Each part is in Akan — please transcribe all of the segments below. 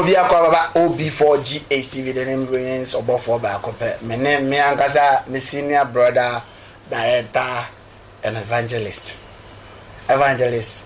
obi akɔ baba ob4gh tv de ne mbronyens ɔbɔfoɔ baako pɛ me ne me ankasa me senior brother director and evangelist evangelist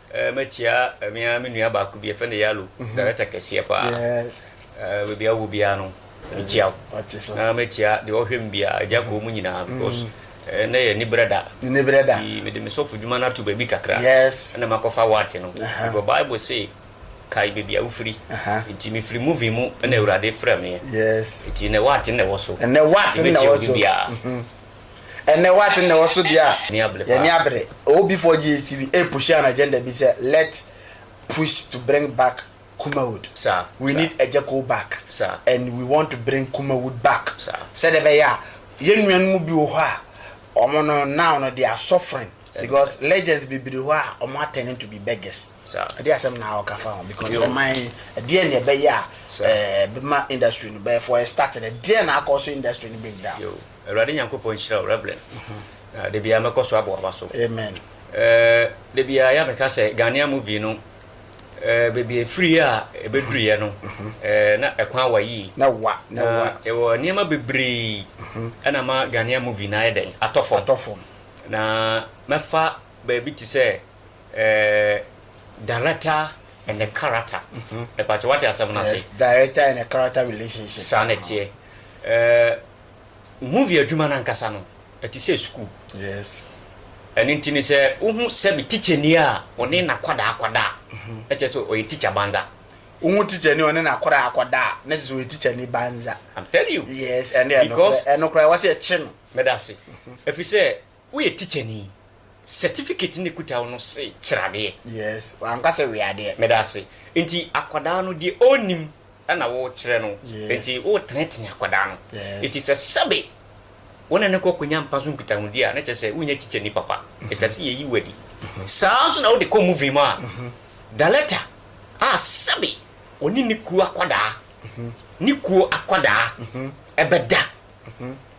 Eh, mɛkyia eh, me ara me nua baako bi yɛfrɛ no Yalo, mhm. director kɛseɛ paa. Eh, baabi a wɔ biara no, mekyia wo. Na mɛkyia deɛ ɔhwɛ m biara, agya kɔɔ mu nyinaa mhm. because Eh, na yɛ nibrɛ da nibrɛ da ti mede me sɔfo dwuma no ato baabi kakra yes ɛna makɔfa wate no ɛbɔ bible se kae baabi a wofiri nti mefiri movie mu ɛna mm. awurade frɛ meɛ yes nti na wate na ɛwɔ so ɛnɛ wate na ɛwɔ so biara mhm. Ɛnnɛ woate nnɛ wɔ so bia yɛni abere. Obi for GHTV a pushi an agenda bi sɛ let push to bring back Kumawood. We need Ejekow back and we want to bring Kumawood back sɛdeɛ ɛbɛyɛ a yɛn nuanom bi wɔ hɔ a wɔn no now no they are suffering because legends bebree hɔ a wɔn atɛne to be beggars. Ɛde asɛm na ɔka fa ho because ɔman yi ɛdeɛ na ɛbɛyɛ a ɛbɛma industry no bɛyɛ for a start no ɛdeɛ na akɔ so industry no break down. Awurade Nyankopɔn nhyira wo Rev. Na da biara mɛkɔ so abɔ w'aba so. Amen. Eh, da biara ya meka sɛ Ghanaian movie no eh, baabi efiri a ebeduruyɛ no mhm. eh, na ɛkwan awa yie. Na wa na wa. Ɛwɔ nneɛma bebree mhm. ɛna ma Ghanaian movie na ayɛ dɛn atɔ fam. Atɔ fam. Na mɛfa baabi te sɛ eh, director and the character. Ɛpàtɛ mhm. wate asɛm no ase. Yes, director and the character relationship. Saa na ɛteɛ. Eh, Movie adwuma no ankasa no, ɛte sɛ sukuu. Yes. Ɛno nti no sɛ wohu sɛbe tikyani a ɔne n'akwadaa akɔda a, mm-hmm. ɛkyɛ sɛ ɔyɛ tikya banza. Wohu tikyani ɔne n'akwadaa akɔda a, na kyɛ sɛ ɔyɛ tikyani banza. I'm telling you. Yes, ɛno ɛno koraa ɛno koraa wɔsi ɛkye no. Mɛda ase. Ɛfiri mm-hmm. sɛ Woyɛ tikyani. Certificate na ɛkuta wo no se kyerɛ adeɛ. Yes, wanka sɛ we adeɛ. Medaase. Nti akwadaa no deɛ ɔnnim na wo kyerɛ no. Yes. Nti wo tenetene akwadaa no. Yes. Nti sɛ sɛbe wo ne no kɔ kɔ nya mpa so nkitahodi a, na kyerɛ sɛ wo nyɛ tikyani papa. Ɛtwa se yɛyi wo adi. Saa nso na wo de kɔ movie mu a, Daletta a sɛbe ɔne ne kuo akwadaa, ne kuo akwadaa ɛbɛda.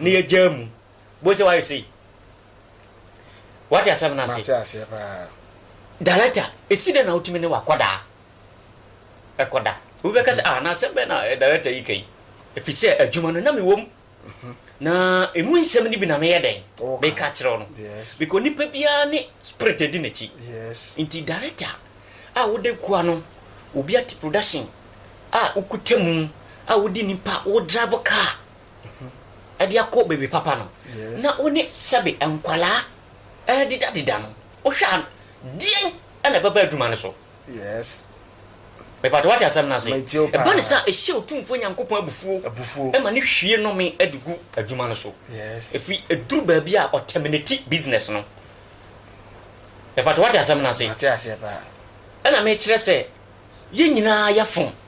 na yɛgyaa mu bohu sɛ wayɛ sei wate asɛm no ase director ɛsi dɛ na wotumi ne wakɔdaa ɛkɔda wobɛka sɛ ah, na asɛm bɛ na eh, director yi ka yi ɛfiri sɛ adwuma no na mewom mhm. na ɛmu nsɛm no bi na meyɛ dɛn meka kyerɛw no because nipa biara ne spirit adi n'akyi nti director a wode kua no obi ate production a wokuta mu a wode nipa wo drive car ɛde akɔ baabi papa no, na wo ne sɛbe nkwadaa rededadeda no, wohwɛ a, deɛn na ɛbɛba adwuma no so? Yes. Mepatɔ wate asɛm no ase. Ɛba ne sɛ ɛhyɛ Otumfoɔ Nyankopɔn abufuo ɛma ne hwie nɔme de gu adwuma no so. Ɛfiri ɛduru baabi a ɔtɛmineti business no. Mepatɔ wate asɛm no ase. Ɛna mekyerɛ sɛ yɛn nyinaa yɛfom.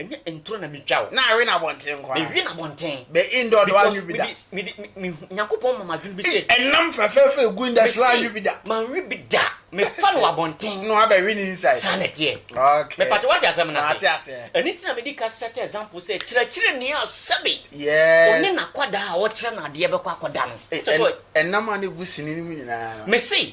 Ɛnyɛ nturo na metwa o. Na awe na abɔnten nko ara. Mewe na abɔnten. Bɛ indoor do anwe bi da. Because me de me hu Nyankopɔn ma m'adwene bi sɛ. Ɛnam fɛfɛɛfɛ egu industry anwe bi da. Manwe bi da. Mefa no abɔnten. Na wabɛ we ne inside. Saa na ɛteɛ. Okay. Me pato wate asɛm no ase. Mate aseɛ. Ɛno nti na mede ka set example sɛ kyerɛkyerɛni a sɛbe. Yes. Ɔne n'akwadaa a ɔkyerɛ no adeɛ bɛkɔ akɔda no. Ɛnam a na egu sini no mu nyinaa no. Mese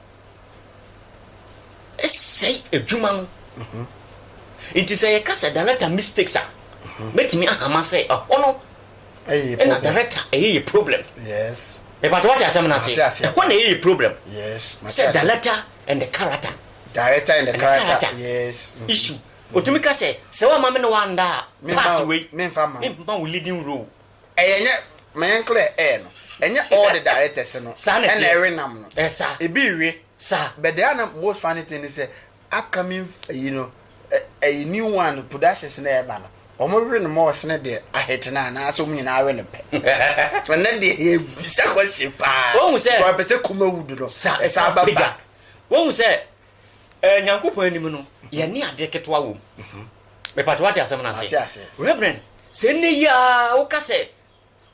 sɛe adwuma no. Nti sɛ yɛka sɛ director mistakes a, mɛtumi ahama sɛ ɛhɔ no na director ɛyɛ yɛ problem. Mepatɔ wate asɛm no ase. Ɛhɔ na ɛyɛ yɛ problem. Sɛ director and the character. Director and the character. Yes. Mm-hmm. Issue. Otumi ka sɛ sɛ wama me ne wanda a part wei. Memfa ma wo leading role. Ɛyɛ nyɛ ma yɛn clear air no ɛnyɛ all the directors no ɛna ɛwe nam no ebi we but the other most funny thing ne sɛ upcoming ɛyi no ɛyi new one productions na ɛba no wɔn we no ma ɔsene deɛ ahete no anaasɛ wɔn nyinaa we no pɛ ɛnɛ deɛ yɛ bisa kɔhye paa wɔn sɛ wɔn pɛ sɛ kuma wudu no ɛsa ba ba wɔn sɛ eh, nyankopɔn anim no yɛne adeɛ ketewa wom mhm. mepatɛ wate asɛm no ase reverend sɛ nnɛ yi a woka sɛ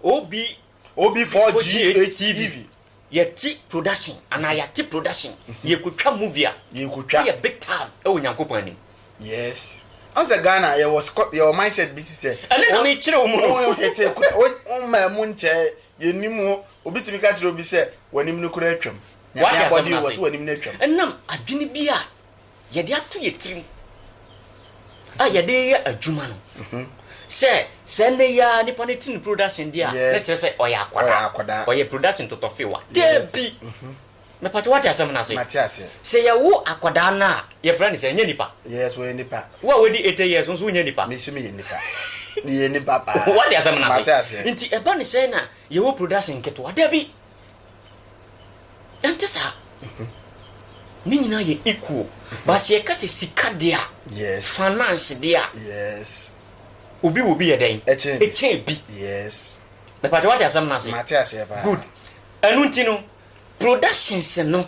obi obi 4ga tv yɛte production anaa mhm. yɛate production mhm. yɛkɔtwa movie a yɛkɔtwa yɛ big time ɛwɔ nyankopɔn anim yes ansa ghana yɛwɔ scot yɛwɔ mindset bi ti sɛ ɛne na mekyerɛ wo mu no wo hete kura wo mma mu nkyɛ yɛnim obi tumi ka kyerɛ obi sɛ w'anim no kura atwam Nyame abɔde o, wɔse w'anim no atwam. Ɛnam adwene bi a yɛde ato yɛn tirim a yɛde reyɛ adwuma no, sɛ sɛ nnɛ yi ara nipa no te ne production di a, na kyerɛ sɛ ɔyɛ akwadaa, ɔyɛ production totɔfewa. Dabi! Mepatwa wate asɛm no ase? Sɛ yɛwo akwadaa no a, yɛfrɛ no sɛ ɛnyɛ nipa? Yes, ɔyɛ nipa. Wo a wadi 80 years nso wonyɛ nipa? Me nso meyɛ nipa. Meyɛ nipa paa. Wate asɛm no ase? Nti ɛba ne sɛ na yɛwɔ production nketewa? Dabi! Ɛnte saa. Ne nyinaa yɛ equal. But sɛ yɛka sɛ sika deɛ a, finance deɛ a, obi wɔ obi yɛ dɛn? Ɛkyɛn bi. Mepatwa wate asɛm no ase? Good. Ɛno nti no, productions no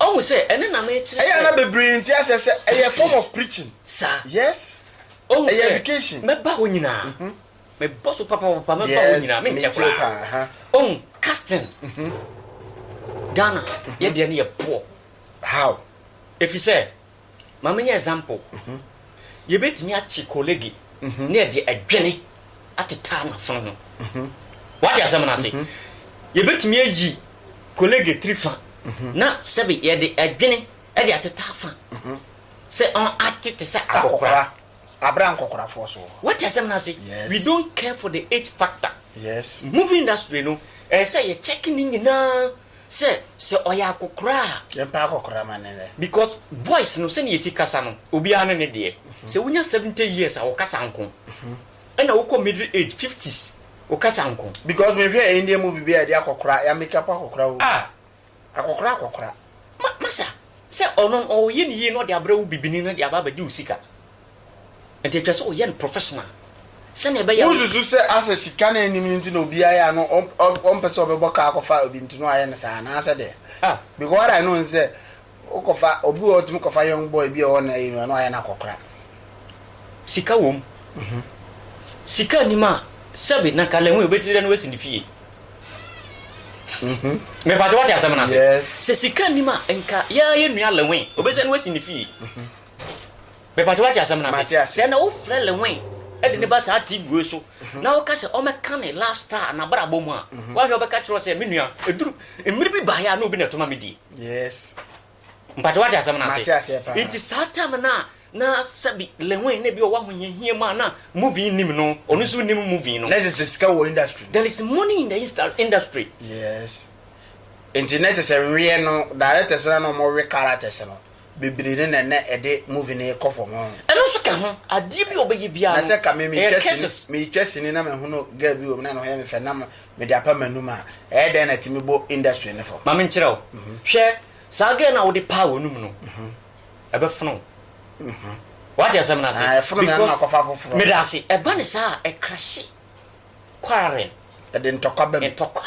Ɔhu sɛ ɛno na mekyerɛ. Ɛyɛ a na bebree nte aseɛ sɛ ɛyɛ form of preaching. Saa. Yes. Ɔhu sɛ. Ɛyɛ education. Mɛba hɔ nyinaa. Mhm. Mebɔ so papapapa mɛba hɔ nyinaa menkyɛ koraa. Yes, metie paa. Ɔhu casting. Mhm. Ghana, yɛ deɛ no yɛ poor. How? Ɛfiri sɛ, Ma menyɛ example, yɛbɛtumi akye kolege ne yɛde adwene atetaa n'afono ho. Woate asɛm no ase? Yɛbɛtumi ayi kolege tiri fa na sɛbe yɛde adwene de atetaa fa sɛ ɔn ate te sɛ akɔkora. Abere a nkɔkorafoɔ so wɔ hɔ. Woate asɛm no ase? Yes. We don't care for the age factor. Yes. Movie industry no, ɛyɛ sɛ yɛ check ne nyinaa. Sɛ sɛ ɔyɛ akɔkora a. Yɛmpa akɔkora ma no nnɛ. Because voice no sɛnea yɛsi kasa no obiara ne ne deɛ. Sɛ wonya seventy years a wo kasa nko. Ɛna wokɔ middle age, fifties, wo kasa nko. Because me hwɛ Indian movie bi a yɛde akɔkora, yɛ make up akɔkora o. Ah. Akɔkora akɔkora. Ma, masa, sɛ ɔno no ɔyɛ ne yie na ɔde abrɛ wo bibini no de aba abɛgye wo sika. Nti ɛtwa sɛ ɔyɛ no professional sɛnea ɛbɛyɛ a. Wonsusu sɛ asɛ sika na ɛnnim no nti na obi ayɛ a no ɔmpɛ sɛ ɔbɛbɔ kaa akɔfa obi nti no ayɛ no saa anaasɛ deɛ? Ah. Because what I know ne sɛ wokɔfa obi wɔ hɔ ɔtumi kɔfa young boy bi a ɔwɔ na yi no a na ayɛ no akɔkora. Sika wom. Sika nnim a sɛbe na nka Lɛnwei obɛtiri dɛ no asi ne fie. Mepakyɛ wate asɛm no ase? Yes. Sɛ sika nnim a nka yɛa yɛn nua Lɛnwei obɛsɛ no asi ne fie. Mepatwɛ wate asɛm no ase? Sɛ na wofrɛ Lewin de ne ba saa TV wei so na woka sɛ ɔmɛka ne love star na brabɔ mu a wahwɛ ɔbɛka kyerɛ sɛ me nua ɛduru mmiri bi baeɛ a na obi na ɛtoma me die. Yes. Mpatwɛ wate asɛm no ase? Nti saa time no a na sɛbi Lewin na bi ɔwɔ ahohiahia mu a na movie nim no ɔno nso nim movie no. Na ɛsɛ sɛ sika wɔ industry. There is money in the industry. Yes. Nti na ɛsɛ sɛ nweɛ no directors no na wɔwe characters no. bebree ne na na ɛde movie no rekɔ fam ho. Ɛno nso ka ho. Adeɛ bi a ɔbɛyɛ biara no, ɛyɛ curses. Na sɛ ka me metwa sini, metwa sini na mehono girl bi wɔ mu na ne ho yɛ me fɛ na mede apa m'anum a, ɛyɛ dɛn na ɛtumi bɔ industry no fam? Ma menkyerɛ wo. Hwɛ, saa girl no a wode paa w'anum no, ɛbɛfono wo. Woate asɛm no ase? Ɛfono me ano makɔfa foforɔ. Meda ase. Ɛba ne saa a, ɛkrahye quarrel. Ɛde ntɔkwa ba mu. Ntɔkwa.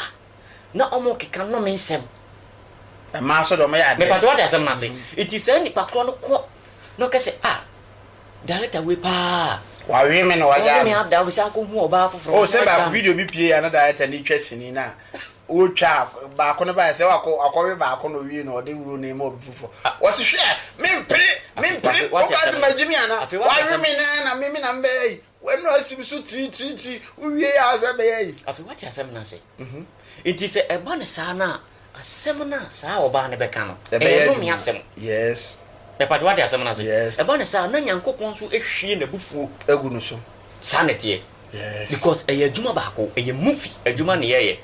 na wɔkeka nnome nsɛm. Mmaa nso deɛ wɔyɛ adeɛ. Mepatwɔ wate asɛm no ase. Nti saa nipa korɔ no kɔ na ɔka sɛ ah director wei paa. Wawe me na wagyaa me. Ɔne me ada mesan kɔ hu ɔbaa foforɔ. Oh sɛ baako video bi pie a na director no retwa sini na ɔretwa a baako no baeɛ sɛ wakɔ wakɔwe baako na ɔwie no ɔde wuro no rema obi foforɔ. Wɔse hwɛ mempere mempere wopɛ sɛ magye me anaa? Wawe me na na me me na mebɛyɛ yi. W'ano asi me so kyirikyirikyi, wowiei ara sɛ ɛbɛyɛ yi. Afei woate asɛm no ase. Enti sɛ ɛba no saa no a, asɛm no a saa ɔbaa no bɛka no, ɛyɛ nnome asɛm. Yes. Mepatwɛ, woate asɛm no ase? Yes. Ɛba no saa a, na Nyankopɔn nso ahwie n'abufuo. Agu no so. Saa na ɛteɛ. Yes. Because ɛyɛ adwuma baako, ɛyɛ movie adwuma na yɛyɛ.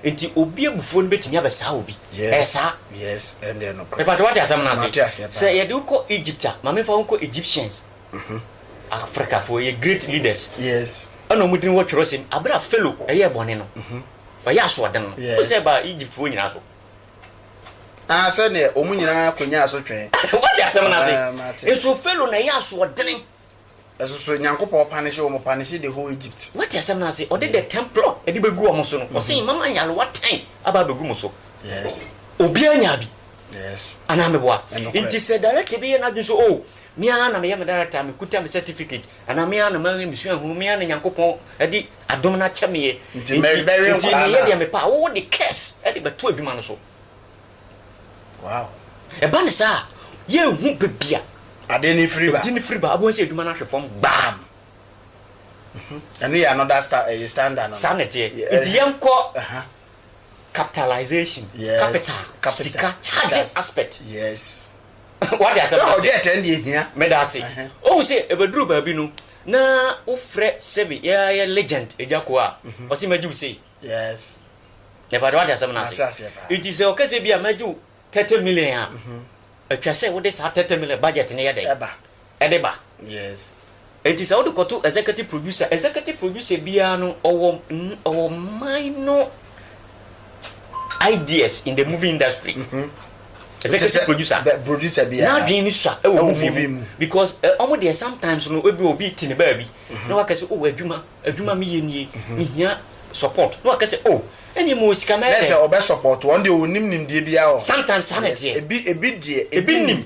Enti obi abufuo no bɛtumi abɛsaa obi. Yes. Ɛyɛ saa. Yes, ɛno deɛ nokorɛ. Mepatwɛ, woate asɛm no ase? Mate aseɛ paa. Sɛ yɛde wo kɔ Egypt a, ma memfa wo nkɔ Egyptians. Mhm. Afrikafoɔ yɛ great leaders. Yes. Ɛna wɔn din wɔ twerɛsɛm mu. Abere a Pharaoh ɛyɛɛ bɔne no, Mhm. ɔyɛ asoɔden no, wohu Yes. sɛ ɛbaa Egyptfoɔ nyinaa so. Ah, sɛdeɛ wɔn nyinaa kɔnyaa so twɛn. Wote asɛm no ase? Ah, mate. Nso Pharaoh na ɛyɛ asoɔdene. Ɛso so Nyankopɔn panishe wɔn, panishe the whole Egypt. Wote asɛm no ase? Ɔde the temple ɛde bɛgu wɔn so no, ɔse mama nyarewa ten aba abɛgu mo so. Yes. Obiara nyaa bi. Yes. Anaa meboa? Ɛnokorɛ. Nti sɛ director bi yɛ n'adwene sɛ o Me ara na meyɛ me director, mekuta me certificate, anaa me ara na mawe me suahunu, me ara na Nyankopɔn de adom no akyɛ me yɛ, nti meyɛ deɛ mepɛ a, wowo de curse de bɛto adwuma no so. Wow. Ɛba ne saa a, yɛnhu baabi a ade no firi ba. Ade no firi ba, wobɛhu sɛ adwuma no ahwe fam gbam. Mhm. Ɛno yɛ another star, ɛyɛ eh, standard no. Saa na ɛteɛ. Eh, nti yɛnkɔ capitalization, yes. capital, capital, sika, charging aspect. Yes. Wate asɛm no ase? Sɛ ɔde ɛtɛn deɛ hia. Meda ase. Wohu sɛ ɛbɛduru baabi no na wofrɛ sɛbe yɛayɛ legend Agya Ko a, ɔse mɛgye wo sei. Yes. Mepa kyɛw wate asɛm no ase? Nti sɛ ɔka sɛ bi a mɛgye wo 30 million a, atwa sɛ wode saa 30 million budget no yɛ dɛn? de ba. Yes. Enti sɛ wode kɔto executive producer, executive producer biara no ɔwɔ ɔwɔ minor ideas in the movie industry. Mm -hmm. Executive producer. Producer biara. N'adwene no sua ɛwɔ movie mu. mu. Because ɔmo eh, deɛ sometimes no ebi obi ti ne baabi. Mm-hmm. Na wakɛse o oh, adwuma adwuma mi yɛ nie. Mm-hmm. Mi hia support. Na wakɛse o. Oh, ɛne mu osika mɛyɛ dɛ. na sɛ ɔbɛ support wɔn deɛ onim nimdeɛ biara wɔ. sometimes saa na ɛteɛ. ebi ebi deɛ ebi nim.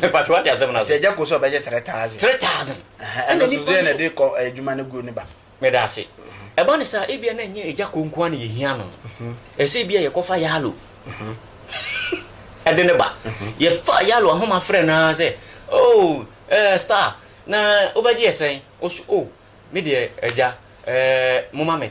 mepatro wate asɛm no ase agya kɔ so ɔbɛgye 3000 3000 ɛna nipa no de kɔ eh, adwuma no guo ne ba meda ase ɛba ne saa ebia na ɛnyɛ agya kɔ nkoa ne yɛhia no mhm. ɛsɛ ebia yɛkɔfa yalo mhm. ɛde ne ba mhm. yɛfa yalo ahoma frɛ no ara sɛ oh, eh, star na wobɛgye yɛ sɛn ɔso o oh, me deɛ agya eh, moma me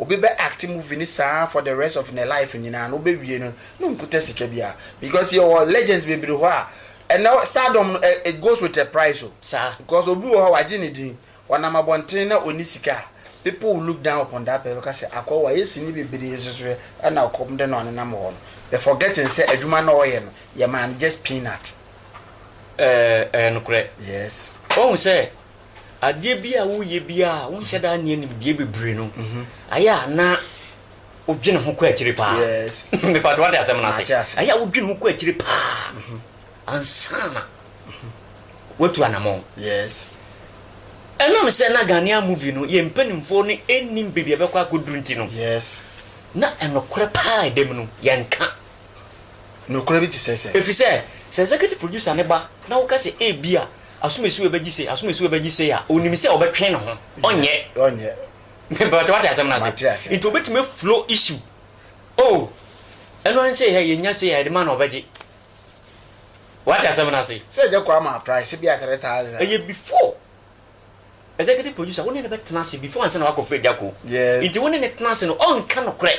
obi bɛ act movie no saa for the rest of ne life nyinaa na obewie no na onkuta sika biara because yɛwɔ legends bebree hɔ a ɛnɛ stardom no it goes with a price o Saa. because obi wɔ hɔ a wagye ne din ɔnam abɔnten na onni sika a people will look down upon that person bɛka sɛ akɔ wayɛ sini bebree nso so hwɛ ɛna ɔkɔm de na ɔnenam hɔ no but forgetting sɛ adwuma no a ɔyɛ no yɛmaa no just peanut. Ɛɛ ɛyɛ nokorɛ. Yes. Woahu sɛ adeɛ bi a woyɛ biara a wonhyɛ da nneɛ nimdeɛ bebree no ayɛ a na wodwene ho kɔ akyire paa mepatɛ wate asɛm no ase ayɛ a wodwene ho kɔ akyire paa ansana watu anamɔn ɛnam sɛ na Ghanaian movie no yɛ mpanimfoɔ no ɛnim baabi a bɛkɔ akɔduru nti no na ɛnokorɛ paa ɛdam no yɛnka nokorɛ bi te sɛ sɛ ɛfiri sɛ sɛ executive producer ne ba na woka sɛ ɛbi a Asomasuo bɛgye sei, asomasuo bɛgye sei a, ɔnim sɛ ɔbɛtwe ne ho, ɔnyɛ. Ɔnyɛ. Mepatwa wate asɛm no ase. Mate ase. Nti ɔbɛtumi aflow issue. Oh, ɛno ara sɛ yɛ yɛnya sei a yɛde ma no ɔbɛgye. Wate asɛm no ase. Sɛ agya kɔ ama price bi a three thousand a. Ɛyɛ before executive producer wo ne no bɛtena ase before ansa na wakɔfrɛ agya kɔ. Yes. Nti wo ne no tena ase no ɔnka nokorɛ.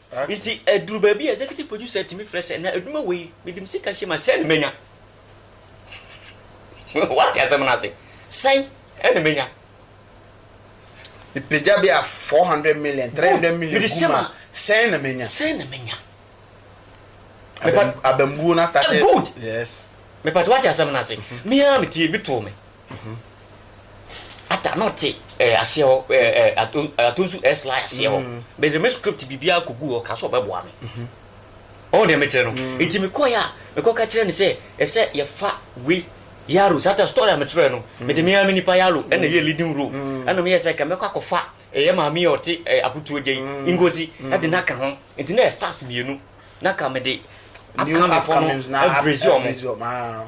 Ntsi edur beebi a executive producer tumi frɛ sɛ, na edwuma wei mede me sika hyem a sɛn na menya? Wɔatse asɛm no ase? Sɛn na menya? Mepegya bi a four hundred million, three hundred million gu mu a sɛn na menya? Sɛn na menya? Abam abambuo no astate. Good! Yes. Mepatse wɔatse asɛm no ase? Me ara metse ebi too me. Mhm. Ata na ɔte ɛɛ aseɛ hɔ ɛɛ ɛɛ ato atonsu ɛɛ sly aseɛ hɔ. Mm. Bɛdze me script biribiara koguu hɔ kaa sɛ ɔbɛboa me. Mhm. Ɔho deɛ mekyerɛ no. Mm. Nti mekɔeɛ a mekɔka kyerɛɛ no sɛ ɛsɛ yɛfa wei Yaro saa ta story a mekyerɛɛ no mm. mede me ara me nipa Yaro mm. ɛna yɛ leading role mm. ɛna meyɛ sɛ kɛmɛkɔ akɔfa ɛyɛ maame a ɔte ɛɛ abutuo gyɛn mm. Ngozi mm. ɛde n'aka ho nti na yɛ stars mmienu na ka mede upcoming fɔ no ɛbrezi ɔmo.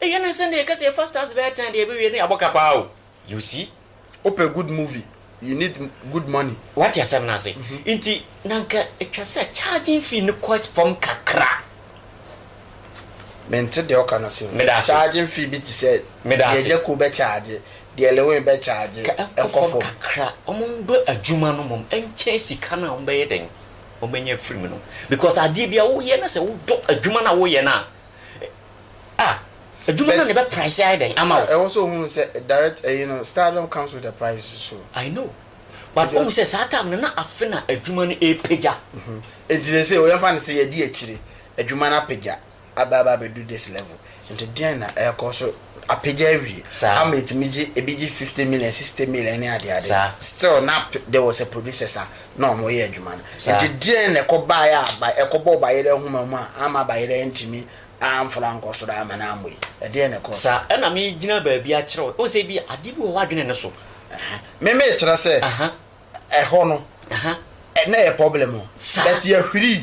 Eyɛ no nsɛn dɛ yɛ kɛsɛ yɛ fa stars bɛyɛ tan deɛ yɛbɛwie no yɛ abɔka paa o you see. Wopɛ good movie you need good money. Wate asɛm no ase nti na nka ɛtwa sɛ charging fee no kɔ fam kakra. Mente deɛ woka no ase o. Meda ase. Charging fee bi te sɛ Meda ase. deɛ Jaco bɛ charge, deɛ Lewin bɛ charge Ka ɛnkɔ ɛnkɔ fam fam. kakra ɔmo ndɔ adwuma no mom ɛnkyɛn sika no a ɔmo bɛyɛ dɛn ɔmo anya afiri mu no because adeɛ biara woyɛ na sɛ wodɔ adwuma no a woyɛ no a Ah, adwuma no na ɛbɛ price ayɛ dɛn ama wo. Ɛwɔ sɛ ohunu sɛ direct ɛyi no stardom comes with a price so. I know but wohu sɛ saa time no na afe na adwuma no ɛɛpagya. Nti sɛsɛ o yɛmfa no sɛ yɛdi akyire adwuma no apagya aba aba abɛduru this level nti deɛn na ɛɛkɔ so apagya awie ama ɛtumi gye ɛbi gye fifty million sixty million ne adeade still na there was a producers a na wɔreyɛ adwuma no. Nti deɛn na ɛkɔbaeɛ a ba ɛkɔbɔɔ bayerɛ nhoma mu a amma bayerɛ antumi amforo ankɔ soro amma no ammɔ yi? Ɛdeɛn na ɛkɔɔ so? Saa ɛna megyina baabi akyerɛ wo. Wohu sɛ ebi a adeɛ bi wɔ hɔ adwene no so. Me mekyerɛ sɛ ɛhɔ no na ɛyɛ problem o but yɛhwirii.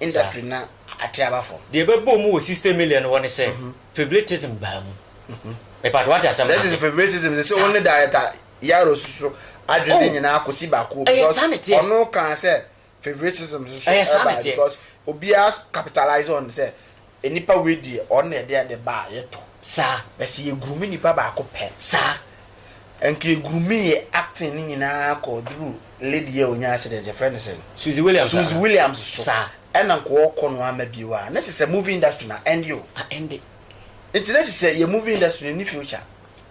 industry na ate aba fam. Deɛ ɛbɛbɔ mu wɔ sixty million hɔ ne sɛ favoritism baa mu. Mepa kyɛw wate asɛm no ase. That is favoritism sɛ wo ne director Yaro soso adwene ne oh, nyinaa kɔsi baako because ɔno kaa sɛ favoritism soso ɛbaa because obiara capitalize on sɛ Nipa wei deɛ ɔno na yɛde ade ba a yɛtɔ. Saa. But sɛ yɛ groomi nipa baako pɛ. Saa. Nka yɛ groomii yɛ acting no nyinaa kɔ duru lady yi a ɔnya accident yɛfrɛ no sɛn? Suzy Williams aa. Suzy Williams so. Saa. Ɛna nka ɔɔkɔ no ama bio a na sesɛ movie industry no a ɛnde o. A ɛnde. Nti na sesɛ yɛ movie industry no nni future.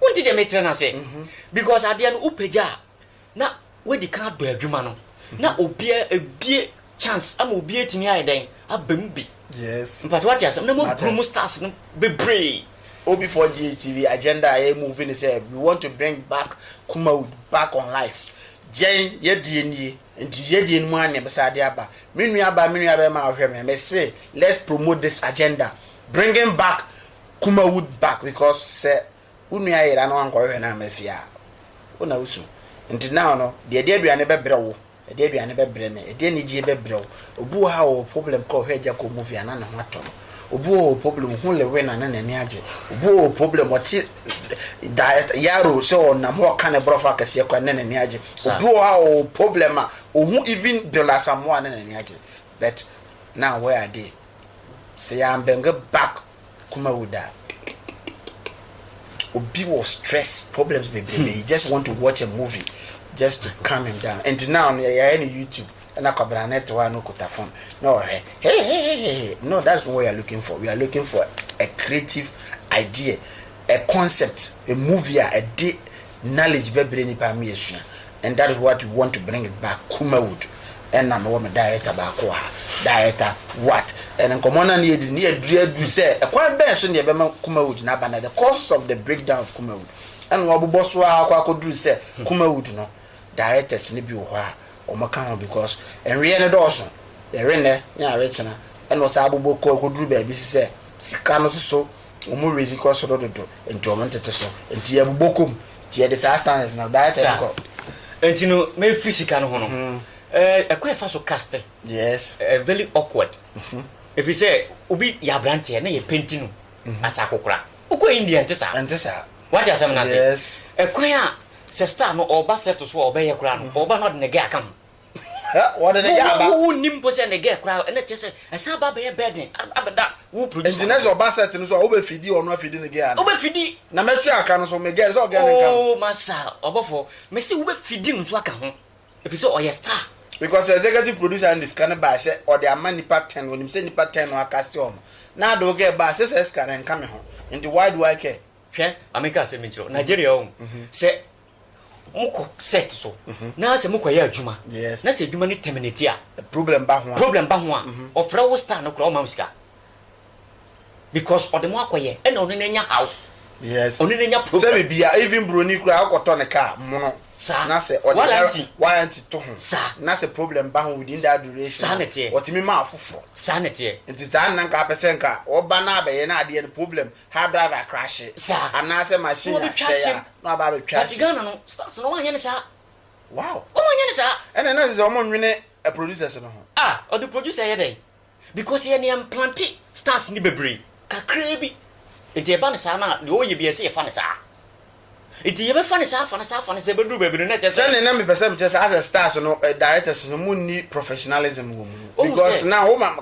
Wonte deɛ mekyerɛ no ase? Because adeɛ no wopagya a, na woadi kan adɔ adwuma no, na obiara abue chance ama obi atumi ayɛ dɛn? Aba mu bi. Yes. Mpakyɛ wate asɛm? Na moaburu mo stars no bebree. OB4GH TV agenda a yɛ move ne sɛ we want to bring back Kumawood back on life. Yɛn yɛdeɛ nie, nti yɛdeɛ no mu ara na yɛbɛsan de aba. Me nuabaa, me nuabarima a wohwɛ me, mese let's promote this agenda, bringing back Kuma wu back because sɛ wo nua yera na wankɔhwehwɛ no amma fie a wo na wosu nti now no deɛ ɛde aduane bɛbrɛ wo ɛde aduane bɛbrɛ me ɛde anigyie bɛbrɛ wo obi wɔ ha ɔwɔ problem kɔ hwɛ agya kɔ movie a na ne ho atɔ no obi wɔ problem hu lewe na ne n'ani agye obi wɔ problem ɔte da yaro sɛ ɔnam hɔ ɔka ne borɔfo akɛseɛ kɔ ne n'ani agye obi wɔ ha ɔwɔ problem a ɔhu even bill asamoa ne n'ani agye but now where are they sɛ yɛambɛnge back koma wu da obi wɔ stress problems bebrebe hmm. he just want to watch a movie just to calm him down and now no yɛyɛ no youtube ɛna kwabena ne to a no kuta phone na ɔhwɛ hey hey hey hey no that's not what we are looking for we are looking for a creative idea a concept a movie a ɛde Knowledge bɛbrɛ nipa ama yɛasua and that is what we want to bring it back Kumawood ɛna mewɔ me director baako wɔ ha director what and nkɔmmɔ no a ne yɛdi ne yɛduru aduru sɛ ɛkwan bɛn so ne yɛbɛma Kumawood no aba na the causes of the breakdown of Kumawood ɛna wɔabobɔ so a akɔ akɔduru sɛ Kumawood no directors no bi wɔ hɔ a wɔka ho because nweɛ no dɔɔso yɛwe nnɛ ne awe kyena ɛna ɔsaa abobɔ kɔ akɔduru baabi si sɛ sika no soso wɔn werɛ dzi kɔ sor dodo ntsi wɔn ntsetse so ntsi yɛbobɔ kɔ mu ntsi yɛdze saa standard no daa kyɛn kɔ. Sa ntsi no mefir sika no ho no eh kwan a yɛfa so cast yes eh very awkward efisɛ obi yɛ abrantsɛ na yɛ paint no as akokora wokɔ India nntse saa ɛnte saa wɔatse asɛm no ase yes eh kwan a sɛ star no ɔba set so a ɔbɛyɛ koraa no ɔba na ɔde ne gɛ aka ho. Wɔde ne yɛ aba. Wo wo nnim mpo sɛ ne gɛ koraa ɛna kyerɛ sɛ ɛsan aba abɛyɛ burden abɛda wo producer. Nti nɛ sɛ ɔba set no so a wo bɛ fidi ɔno afidi ne gɛ ana. Wo bɛ fidi. Na mɛ sua aka no so me gɛ sɛ ɔgɛ ne nka no. Oh masa ɔbɔfɔ me se wo bɛ fidi no so aka ho efi sɛ ɔyɛ star. Because executive producer no de sika no bae sɛ ɔde ama nipa ten onim sɛ nipa ten no akaste ɔno na ade wo gɛ ba a se saa sika no ɛnka me ho nti why do I care. Hwɛ ma me nka asɛm bi nkyerɛ wo Nigeria ɔhu sɛ mokɔ set so mhm. na sɛ mokɔyɛ adwuma na sɛ adwuma no terminate a eh, problem ba ho a problem ba ho a mhm. ɔfrɛ wo star no kora ɔma wo sika because ɔde mo akɔyɛ ɛna ɔno no anya haw yes ɔno no anya problem sɛ bibia even buroni koraa wokɔtɔ ne kaa mono saa na sɛ ɔde warranty warranty to ho saa na sɛ problem ba ho within that duration saa na teɛ ɔtumi ma afoforɔ saa na teɛ nti saa nna nka apɛ sɛ nka ɔba no abɛyɛ no adeɛ no problem ha driver crashe anaasɛ machine asɛe a na waba abɛtwa ahye. But Ghana no stars no wɔn anyɛ no saa. Wow. Wɔn anyɛ no saa. Ɛna na sɛ wɔn nwene eh, producers no ho. Ah, ɔde producer yɛ dɛn? Because yɛn yɛn plante stars ni bebree, kakraa bi. Nti ɛba no saa na deɛ ɔyɛ bi ɛsɛ yɛfa no saa. Nti yɛbɛfa no saa afa no saa afa no saa ɛbɛduru baabi no na ɛkyerɛ sɛ. Sɛnea na mepɛ sɛ mekyerɛ sɛ asɛ stars no eh, directors no mu nni professionalism wɔ mu no because na woma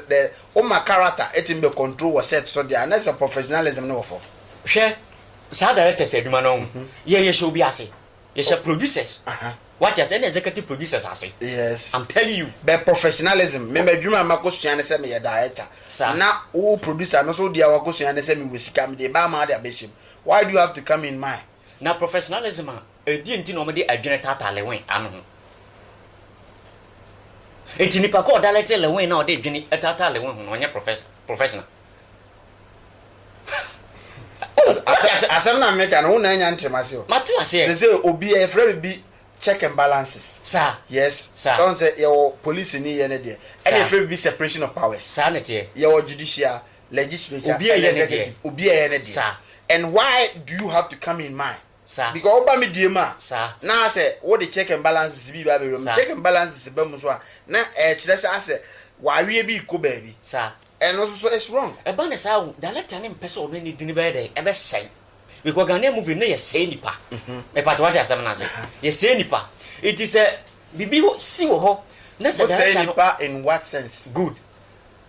the woma character ɛtumi bɛ control wɔ set so deɛ a na sɛ professionalism no wɔ fam. Hwɛ saa directors adwuma no ho yɛ yɛ hyɛ obi ase yɛhyɛ producers uh -huh. wate ase ɛna executive producers ase yes I'm telling you bɛ professionalism me madwuma a makɔsua ne sɛ meyɛ director sa. na wo producer no so deɛ wakɔsua ne sɛ mewɔ sika mede baa ma ade abɛhyɛm Why do you have to come in my. Na professionalism a, ɛdeɛn nti na wɔde adwene taataa Lewin ano ho? Nti nipa ko a ɔdalɛte Lewin na ɔde adwene taataa Lewin ho no ɔnyɛ professional? Asɛm na meka no, wo na anya ntem ase o. Mate aseɛ. Te sɛ obi a yɛfrɛ me bi check and balances. Saa. Yes. Saa. Ɔn sɛ yɛwɔ police ni yɛ ne deɛ. Saa. Ɛna yɛfrɛ me bi separation of powers. Saa ne teɛ. Yɛwɔ judicial. legislature Obi a and ɛyɛ ne deɛ. executive obi a ɛyɛ ne deɛ Saa. and why do you have to come in mine Saa. because woba me deɛ mu a Saa. na asɛ wode check and balances bi ba abɛwura mu Saa. check and balances ba mu nso a na ɛkyerɛ sɛ asɛ w'aweɛ bi rekɔ baabi Saa. ɛno nso so it's wrong. Ɛba ne saa o, director no mpɛ sɛ ɔno ne din bɛyɛ dɛn? Ɛbɛsɛe. Because Ghanaian movie no yɛsɛe nnipa. Mepakyɛ wate asɛm no ase. Yɛsɛe nnipa. Nti sɛ biribi hɔ- si wɔ hɔ na sɛ Wosɛe director no nipa in what sense? good.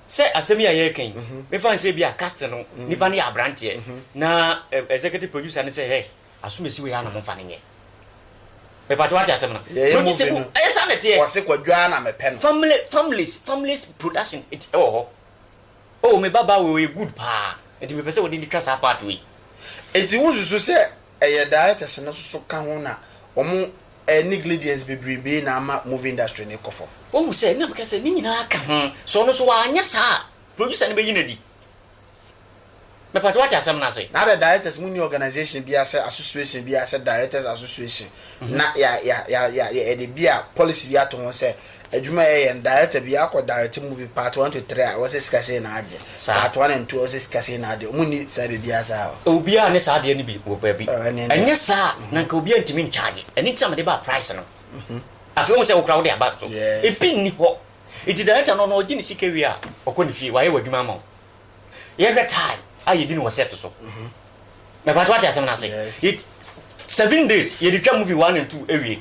Sɛ asɛm yi a yɛreka yi, mefa no sɛ ebia cast no nipa no yɛ abranteɛ na executive producer no sɛ hɛ asomasi wei ara na momfa no nyɛ. Mepatɔ wate asɛm no? Yɛyɛ movie no. Ɛyɛ saa na ɛteɛ. Wɔse Kwadwo ara na mepɛ no. Family families families production ɛti ɛwɔ hɔ. Oh me babaa wei ɔyɛ good paa nti mepɛ sɛ wɔde no twa saa part wei. Nti wonsusu sɛ Ɛyɛ directors no soso ka ho na ɔmo neglidience bebrebee na ama movie industry no kɔ fam. Wahu sɛ nam ka sɛ ne nyinaa ka ho, sɛ ɔno nso wanyɛ saa a producer no bɛyi no adi. Mepatwɛ wate asɛm no ase? Na adɛ directors mo nni organization biaa sɛ association biaa sɛ directors association na yɛde bia policy bi ato ho sɛ. Adwuma a yɛyɛ no director bi akɔ direct movie part one to three a ɔsɛ sika sei na agye part one and two ɔsɛ sika sei na agye ɔmo nni saa biribiara saa hɔ. Obiara ne saa adeɛ no bi wɔ baabi Oh ɛne ɛne. ɛnyɛ saa a na nka obiara ntumi nkyagye ɛno nti na mede baa price no afei wohu sɛ wo koraa wode aba so Yes. ebi nni hɔ nti director no no ɔgye ne sika wie a ɔkɔ ne fie wayɛ w'adwuma ama wo yɛhwɛ time a yɛdi no wɔ set so mepatwo ate asɛm no ase Yes. It- seven days yɛde twa movie one and two awie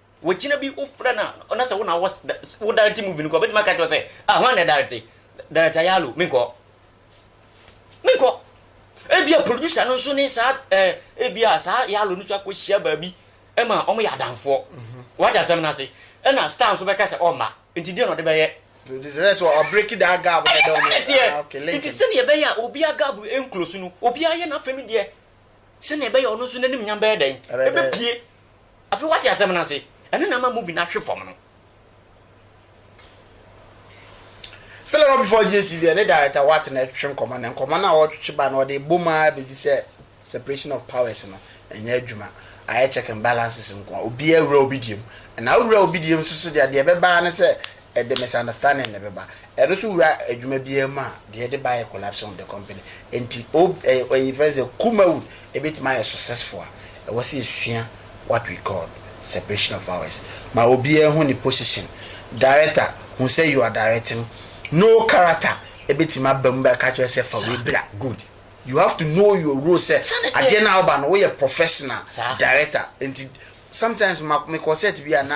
Wogyina bi wofrɛ no a na sɛ wo na wɔ wo directing movie no kɔ bɛtumi aka kyerɛ sɛ ah hwan na ɛdarete director yalo menkɔ menkɔ ebia producer no nso ne saa eh, ebia saa yalo no nso akɔhyia baabi ɛma wɔn yɛ adamfoɔ mhm. wate asɛm no ase ɛna star nso bɛka sɛ ɔmma nti deɛ na ɔde bɛyɛ nti sɛdeɛ ɛbɛyɛ a obia gab nkuro so no obia yɛ n'afɛ no deɛ sɛdeɛ ɛbɛyɛ ɔno nso n'anim nyam bɛyɛ dɛn ɛbɛpie Afei wate asɛm no ase. Ɛno na ama movie no ahwe fam no. Still not before GHTV ɛne director Watt na ɛtwetwe nkɔmmɔ na nkɔmmɔ no a wɔretwetwe ba no wɔde bom ara bɛdi sɛ separation of powers no ɛnyɛ adwuma. Ayɛ check and balances nko ara. Obiara wura obi deɛ mu. Na wowura obi deɛ mu nso so deɛ, deɛ ɛbɛba ara ne sɛ ɛde misunderstanding na ɛbɛba. Ɛno nso wura adwuma biara mu a, deɛ ɛde ba yɛ collapsing of the company. Nti ob ɛyɛ ɛyɛ yɛfrɛ no sɛ Kumawood ɛbɛtumi ayɛ successful a, ɛwɔ sɛ yɛsua what we call separation of powers. Ma obiara hu ne position. Director, hu sɛ you are directing. No character ɛbɛtumi aba mu bɛka kyerɛ sɛ fa wei bra. Good. You have to know your role sɛ adeɛ no a woba no woyɛ professional director. Nti sometimes ma mekɔ set bi a na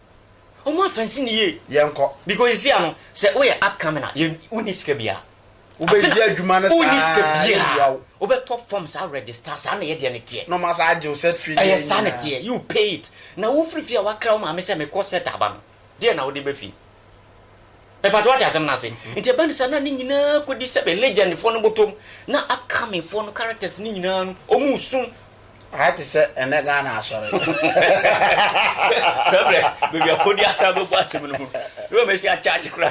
Ɔmo afɛnsi ne yie. Yɛnkɔ. Because esi ano sɛ woyɛ upcoming a yɛ wonni sika biara. Wobɛdi adwuma no saa. Wonni sika biara. Wobɛtɔ forms a register saa na yɛ deɛ no teɛ. Na ɔmo asan agye wo set fee no nyinaa. Ɛyɛ saa na ɛteɛ you pay it. Na wofiri fie a wakra wo maame sɛ mekɔ set aba no deɛ na wode ba fie. Mepa kyɛw wate asɛm no ase. Nti ɛba no saa na ne nyinaa kɔdi sɛbe legend foɔ no bɔtɔm na upcoming foɔ no characters no nyinaa no ɔmo resu. Ayɛ te sɛ ɛnɛ Ghana asɔre. Sɛ brɛ baabi afɔdi asa bɛbɔ asɛm no ho. Yɛ wɔn asi akyakye kura.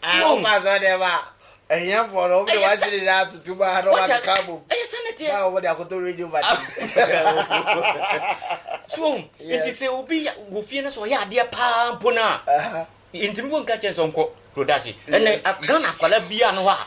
Wokɔ asɔre deɛ ba ahiafoɔ no wɔde wɔn akyere nyinaa tutu ba na wɔn akeka bom. Ɛyɛ sɛ ne teɛ. Na wɔde akoto radio ba ti. So nti sɛ obi wɔ fie no sɛ ɔyɛ adeɛ paa mpo no a ntumi wɔn nka kyɛn sɛ ɔnkɔ production. Ɛnna Ghana akwadaa biara no hɔ a.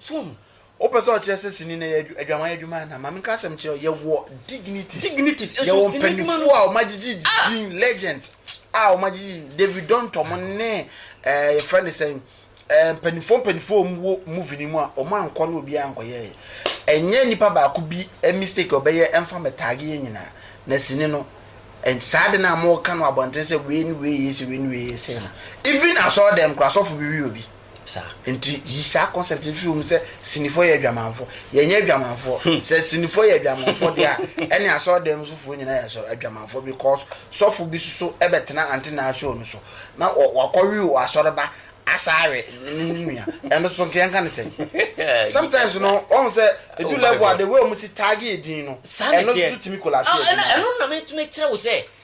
So wohu? Wopɛ sɛ ɔkyerɛ sɛ sini no yɛ adwaman adwuma anaa? Maame nka asɛm nkyerɛ wo, yɛwɔ dignities. Dignities. Nso yɛwɔ mpanyinfoɔ a wɔagyegye ah! din legends a ah, wɔagyegye David Donto mo ne ɛɛ eh, yɛfrɛ no sɛn ɛɛ eh, mpanyinfoɔ mpanyinfoɔ wɔn wɔ movie no mu a wɔn ankɔ no obiara ankɔyɛɛ. Ɛnyɛ nipa baako bi eh, mistake ɔbɛyɛ ɛnfa mɛtaage yɛ nyinaa na sini no saa de no a wɔka no abɔnten sɛ wei ne wei yɛ sɛ wei ne wei yɛ sɛ no even asɔɔ dɛm kora asɔfo bi wi obi. saa. Nti yi saa concept no firi wo mu sɛ sinifoɔ yɛ adwamanfoɔ. Yɛnyɛ adwamanfoɔ. Hmm. Sɛ sinifoɔ yɛ adwamanfoɔ deɛ a, ɛne asɔɔdan sofoɔ nyinaa yɛ asɔre adwamanfoɔ because sɔfo bi soso ɛbɛtena ante naa show no so na wakɔwe wɔ asɔreba asaare ne ne nua ɛno soso nkeɛ nka ne sɛ. Sometimes no ɔn sɛ edu level a the way ɔmo si taage edin no ɛno soso tumi collapse ah, ɛdin. Ɛno na me tumi kyerɛ wo sɛ.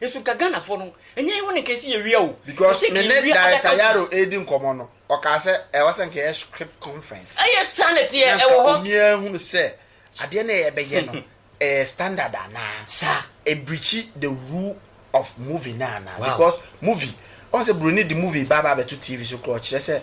Nso nka Ghanafoɔ no, ɛnyɛ yɛn hɔ na nka ɛsɛ yɛwia o. Because Ɛsɛ nka me ne yɛwia other Director Yaro countries. redi nkɔmmɔ no, ɔkaa sɛ ɛwɔ sɛ nka ɛyɛ script conference. Ɛyɛ saa na ɛteɛ, Na ɛwɔ nka hɔ. obiara hunu sɛ adeɛ no a yɛbɛyɛ no ɛyɛ standard anaa. Saa. Ɛbirikyi the rule of movie no anaa. Wow. Because movie, ɔhu sɛ Buroni de movie ba ba abɛto TV so koraa ɔkyerɛ sɛ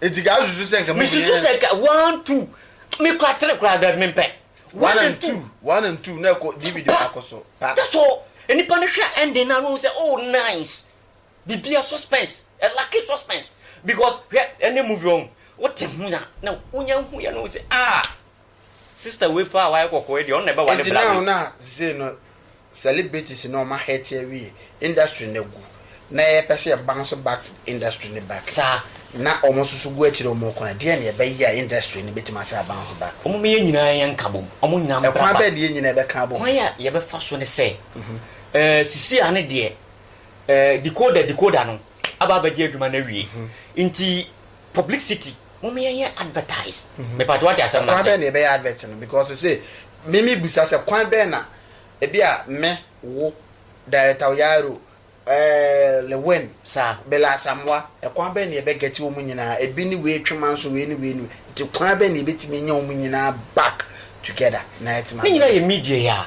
Eti ka asusu sɛ nka mo mmiɛn. Misusu sɛ nka one two me kura three kura dɛbi me mpɛ. One and two one and two na ɛkɔ DVD baako so pa. That's all nipa no hwɛ ending na ɔhu sɛ oh nice bibia suspense ɛ lucky suspense because hwɛ ɛnɛ movie ɔn wote ho a na wonya hu yɛ na ɔhu sɛ ah. Sister wei paa a wayɛ kɔkɔɔ yi deɛ ɔno na ɛbɛwale Nti bla na wei. na sesei no celebrities no ɔmo ahɛɛte awie industry no agu na yɛpɛ sɛ yɛ bounce back industry no back Saa. na ɔmo nso so gu akyire ɔmo kwan deɛn na yɛbɛyɛ a industry no bɛtumi asan a bounce back? Ɔmo meyɛ nyinaa yɛn nka bom ɔmo nyinaa mbra Ɛkwan ba. bɛn na yɛn nyinaa bɛka abom? Kwan a yɛbɛfa so ne sɛ ɛɛ sesei a ne deɛ ɛɛ decoder decoder no aba abɛgye adwuma no awie nti Publicity mom yɛn yɛ advertise me pato wate asɛm no ase. Kwan bɛn na yɛbɛyɛ advert no because sese me me bisa sɛ kwan bɛn na ebi a me wo director Oyaro ɛɛɛ Lewin saa Bella Asamoah ɛkwan bɛn na yɛbɛ get wɔn nyinaa ebi ne wei twe manso wei ne wei ne wei nti kwan bɛn na yɛbɛtumi anya wɔn nyinaa back together na yɛtumi. Ne nyinaa yɛ media yi a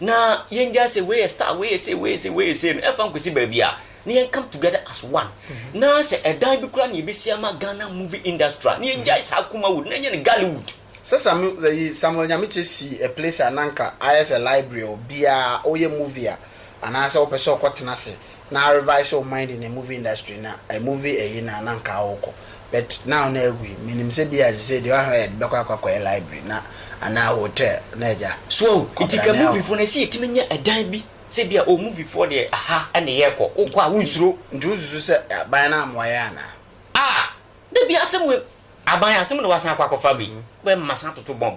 na yɛngyae sɛ wei yɛ star wei yɛ sei wei yɛ sei wei yɛ sei no ɛmfa nkɔsi baabi a na yɛn come together as one na sɛ ɛdan bi koraa na yɛbɛsi ama Ghana movie industry a na yɛngyae saa Kumawood na ɛnyɛ no Gallywood. Sɛ Samuel Nyamekye si a place a na anka ayɛ sɛ library a obiara woyɛ movie a anaasɛ wopɛ sɛ wokɔtena ase na a revise wo mind in a movie industry na a movie ɛyi na na nka wo kɔ but now na agu yi menim sɛ bia sisei deɛ ɔha yɛde bɛkɔ akɔ akɔyɛ library na anaa hotel na agya So ahu nti ka movie foɔ no ɛsɛ yɛtumi nya ɛdan bi sɛ bia oh movie foɔ deɛ aha ɛne yɛkɔ wo kɔ a wo nsuro. Nti wo susu sɛ aban no amoa yɛn anaa. Ah! Dabi asɛm wei. Aban asɛm na wasan akɔ akɔfa me yi. Wɛ mma san toto bomb.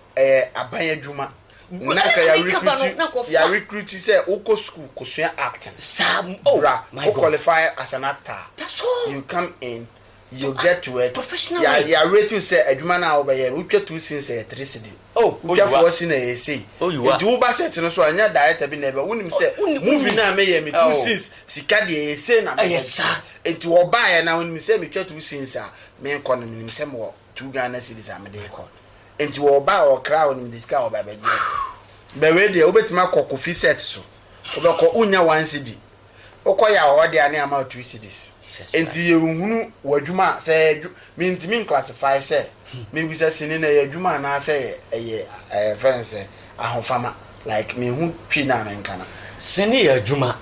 ɛyɛ aban adwuma na nka ya recruit ya recruit sɛ wokɔ school kosua acting oh, bra wo qualify as an actor you come in you get to work ya ya rate sɛ adwuma no a wobɛyɛ no wotwa two scenes ɛyɛ three cedi oh, wotwa four scene ɛyɛ sei nti wo ba set no so a ɛnyɛ director bi na ɛbɛ wonim sɛ movie no a meyɛ me two scenes sika deɛ ɛyɛ sei na meyɛ nti wɔbaeɛ na wonim sɛ metwa two scenes a menkɔ no menim sɛ mewɔ two Ghana cedis a mede rekɔ nti wɔba a wɔkra a wɔnim de sika a wɔba bɛgye bɛ wei deɛ wobɛtumi akɔ kofi set so wobɛkɔ wonya one cedi wokɔ yɛ a wɔde ane ama two cedis nti yɛhunu w'adwuma a sɛ yɛ mentumi nclassify sɛ mebisa sini na ɛyɛ adwuma anaasɛ ɛyɛ ɛyɛ ɛyɛ fɛn sɛ ahofama Like me ho twi na me nka na. Se ne yɛ adwuma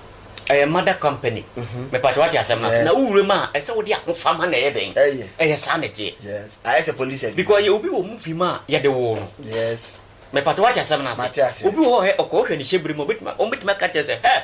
ɛyɛ mother company mepatwo wate asem no ase na wo wura mu a ɛsɛ wode ahofama na ɛyɛ den ɛyɛ saa na ɛteɛ yes ayɛ sɛ police adwuma because yɛ obi wɔ movie mu a yɛde woo no yes mepatwo wate asem no ase mate ase obi wɔ hɔ ɔkɔ wohwɛ ne hyɛ bere mu obetumi obetumi aka kyerɛ sɛ hɛ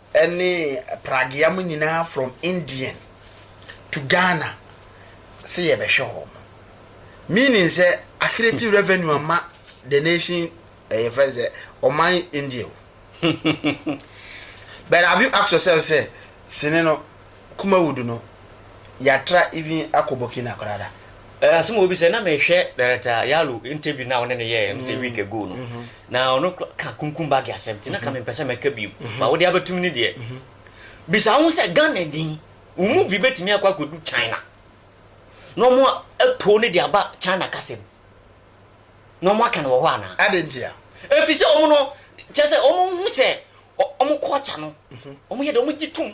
ne pragea mo nyinaa from Indian to Ghana se yɛbɛhwɛ wɔn meaning sɛ accretive revenue ama the nation ɛyɛ eh, fɛ sɛ ɔman India o but have you asked yourself sɛ sini no Kumawudu no, yɛatra even akɔ Burkina koraa da. Asɛm a obi sɛ, na mehwɛ Director Yalo interview no a wone no yɛeɛ no sɛ week ago no, na ɔno ka Kunkum Bage asɛm nti na ka mempɛ sɛ mɛka bio, but wode abɛtom no deɛ, bisa wo ho sɛ, Ghanani, wo movie bɛtumi akɔ akɔdu China na wɔn atoo no de aba China kasa mu na wɔn aka no wɔ hɔ anaa? Adɛn ntia? Ɛfiri sɛ wɔn no, kyerɛ sɛ wɔn hu sɛ wɔn culture no, wɔn yɛ dɛ, wɔn gye tom.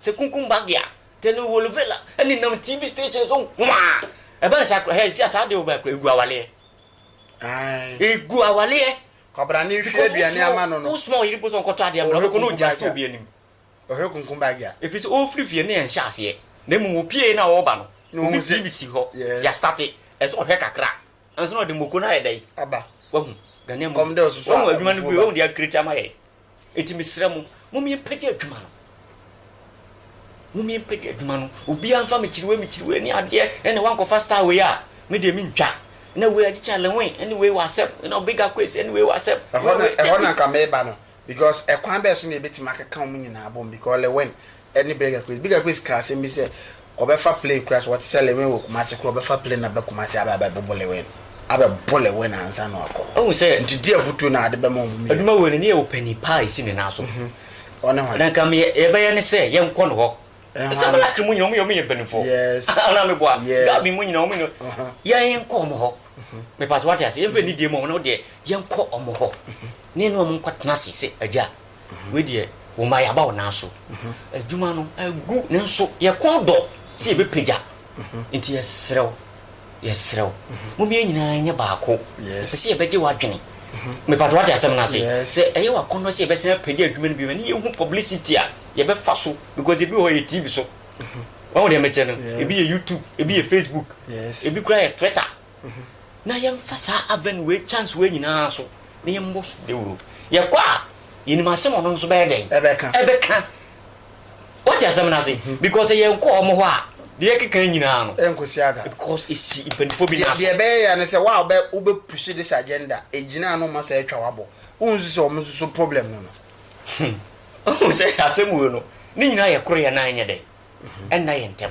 Sɛ kunkum ba deɛ a, teleholvela ɛne nam TV station so nkoaa. Ɛbɛn saa koraa, hɛɛ sia saa deɛ ɔbɛn koraa, egu awaleɛ. Ae. Egu awaleɛ. Kɔbra ne nhwie aduane ama no no. Wo soma ɔyere mpo sɛ ɔnkɔtɔ adeɛ mmra, ɔbɛkɔ na ɔgya ato obi anim. Ɔhwɛ kunkum ba deɛ a. Ɛfiri sɛ ɔrefiri fie no yɛ nhyɛ aseɛ, na mmom ɔpie na ɔreba no, ɔde TV si hɔ, ya starte, ɛsɛ sɛ ɔhwɛ kakra ansa na ɔde moko no ayɛ dɛn? Aba. Wahu? Ghanaian mu. Kɔm dɛ ɔsoso a, abufuo ba. Wahu adwuma no bio, wahu deɛ ɔcreate ama yɛn. Enti mesrɛ mo, mommyɛmpagya adwuma no. Mommyɛmpagya adwuma no. Obiara mfa mekyiriwei mekyiriwei ne adeɛ ɛna wankɔfa star wei a, me deɛ mentwa. Na wei agye kyale ho ɛne wei wɔ asɛm. Na ɔbɛga kwesi ɛne wei wɔ asɛm. Ɛhɔ na ɛhɔ na nka meba no because ɛkwan bɛɛ so na yɛbɛtumi akeka wɔn nyinaa abom because Lewin ne Birger Quist. Birger Quist kaa asɛm bi sɛ wɔbɛfa plane koraa sɛ wɔte sɛ Lewin wɔ Kumasi koraa wɔbɛfa plane aba Kumasi aba abɛbobo Lewin abɛbo Lewin ansa na wakɔ. Wohu sɛ nti di afotuo na ade bɛma wɔn mmienu. Adwuma wei no ne yɛ ɔpanin pa a ɛsi ne nan so. Ɔne hwan? Na nka me yɛbɛyɛ ne sɛ yɛnkɔ ne hɔ. Ɛhwan? Sɛ black mu nyina wɔn yɛ wɔn yɛ mpaninfoɔ. Yes. Anaa me boa? Yes. Gabi mu nyina wɔn no. Yɛnkɔ wɔn hɔ. Me pato wate ase yɛnfɛ nidie mu wɔn no deɛ yɛnkɔ wɔn hɔ. ne ne wɔn nkɔ tena ase sɛ agya wei deɛ wɔn ma yaba wɔn nan so adwuma no agu ne nso yɛ kɔn dɔ sɛ yɛbɛ pagya nti yɛ serɛw yɛ serɛw mo mmiɛ nyinaa nyɛ baako pɛ sɛ yɛbɛgye wadwene mepatɛ wate asɛm no ase sɛ ɛyɛ wakɔn dɔ sɛ yɛbɛsɛn apagya adwuma no bi ne yɛhu publicity a yɛbɛfa so because ebi hɔ yɛ tv so wɔn deɛ mɛkyɛ no ebi yɛ youtube ebi yɛ facebook ebi kura yɛ twitter na yɛmfa saa Advent wei chance wei nyinaa so na yɛmmɔ dawuro. Yɛkɔ a, yɛnim asɛm ɔno nso bɛyɛ dɛn? Ɛbɛka. Ɛbɛka. Wate asɛm no ase? Because sɛ yɛnkɔ wɔn hɔ a, deɛ ɛkeka nyinaa no. Ɛnkosi ada. Because esi mpanimfoɔ bi nan so. Deɛ ɛbɛyɛ ya ne sɛ wo a wobɛ wobɛpusi this agenda, ɛgyina ano ma sɛ atwa wabɔ. Wonsu sɛ wɔn nso so problem no no. Wohu sɛ asɛm wei no, ne nyinaa yɛkorɔ yɛn nan nyɛ dɛn? Ɛnna yɛn ntam.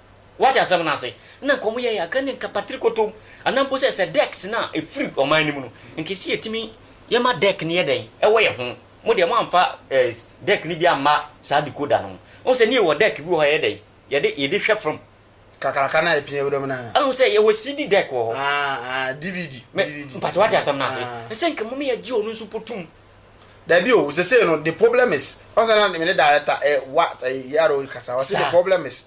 Woate asɛm no ase? Nna nka wɔyɛ yɛn akanni nka patrikotom, anaa mpo sɛ sɛ dɛk sene a ɛfiri ɔman no mu no, nka ɛsi yɛtumi yɛma dɛk no yɛ dɛn wɔ yɛn ho. Mo deɛ moamfa eh, dɛk no bi amma saa decoder no ho. Wohu sɛ ne yɛwɔ dɛk bi wɔ hɔ a yɛyɛ dɛn? Yɛde, yɛde hwɛ fam. Kakraka no a ɛpia wuram no anaa? Wohu sɛ yɛwɔ CD dɛk wɔ hɔ. Ah, ah, DVD, Me, DVD. mpakyɛ woate asɛm no ase? Ah. Ɛsɛ nka mmom yɛgye ɔno nso mpo tom Dabi o, sesei no, the problem is, ɔsɛ na me ne director, eh, what, eh, yɛara o kasa, ɔsɛ the problem is,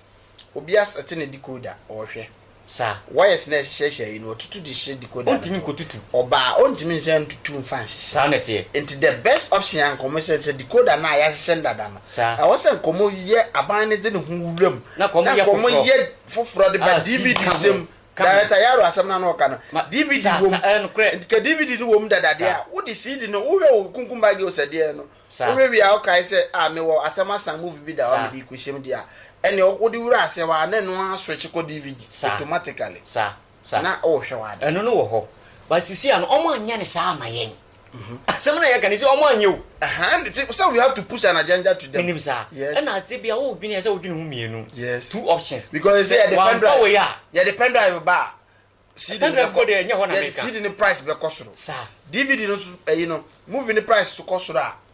obi asɛte ne decoder, ɔhwɛ. Sa. Wires na ɛhyehyɛhyɛ yi no, ɔtutu de hyɛ decoder no. Ɔntumi nkɔtutu. Ɔbaa, ɔntumi nsan ntutu mfa nhyehyɛ. Saa na ɛteɛ. Nti the best option a nkɔmmɔ sɛ, sɛ decoder no a yɛahyehyɛ no dada no, ɛwɔ sɛ nkɔmmɔ yɛ, aban no de ne ho wura mu, na nkɔmmɔ yɛ foforɔ de ba DVD sɛm, ka ho. Director Yaro asɛm no a na ɔka no DVD Sa wom. sa ɛɛ nokorɛ. Nti ka DVD no wom dada deɛ Sa. a wode CD no wohwɛ wo kunkum baa girls ɛdeɛ no Sa. wohwɛ wie a wokae sɛ ah mewɔ asɛm asan movie bi da hɔ a Sa. mede rekɔhyɛ mu deɛ a ɛneɛ wo wode wura aseɛ hɔ a na ɛno ara switch kɔ DVD Sa. automatically Sa. Sa. na wohwɛ w'ade. Ɛno no wɔ hɔ but sisi a no ɔmo anyɛ no saa amma yɛn. Asɛm na yɛka no sɛ ɔmo anyɛ o. Sɛ we have to push an agenda to them. Menim saa. Yes. Ɛna adze bi a wo dwen a ɛsɛ wo dwen ho mmienu. Yes. Two options. Because ɛsɛ yɛde pen drive. Wampa wei a. Yɛde pen drive ba a. CD pen drive kɔ de ɛnyɛ hɔ na meka. CD ne price bɛkɔ soro. Saa. DVD no so ɛyi no movie ne price so kɔ soro a.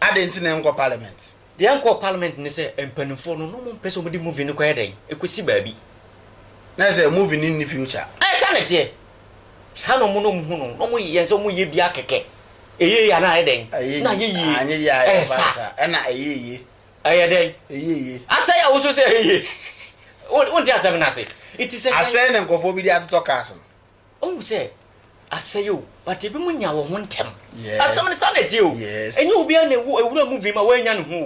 Adɛn nti na yɛnkɔ parliament? Deɛ yɛnkɔɔ parliament ne sɛ mpaninfoɔ no na wɔmpɛ sɛ wɔde movie no kɔyɛ dɛn? Ɛkɔsi baabi. Na ɛsɛ movie no nni future. Ɛɛ saa na ɛteɛ. Saa na wɔn na wɔhu no. Na wɔyɛ yɛn sɛ wɔyɛ biara kɛkɛ. Ɛyɛ yie anaa ɛyɛ dɛn? Ɛyɛ Na yie. yie. Anyɛ yie a Ɛyɛ ɛyɛ sa. basa. Ɛna ɛyɛ yie. Ɛyɛ dɛn? Ɛyɛ yie. Asɛe a wosuo sɛ ɛyɛ yie. Wo- Wonte asɛm no ase. Nti sɛ kan- Asɛe na nkurɔfoɔ bi de atotɔ cars no. Wohu sɛ asɛe o, but ebinom nya wɔ ho ntɛm. Asɛm no saa na ɛteɛ o. Ɛnyɛ obiara na ewura mu vim a wannya ne ho o.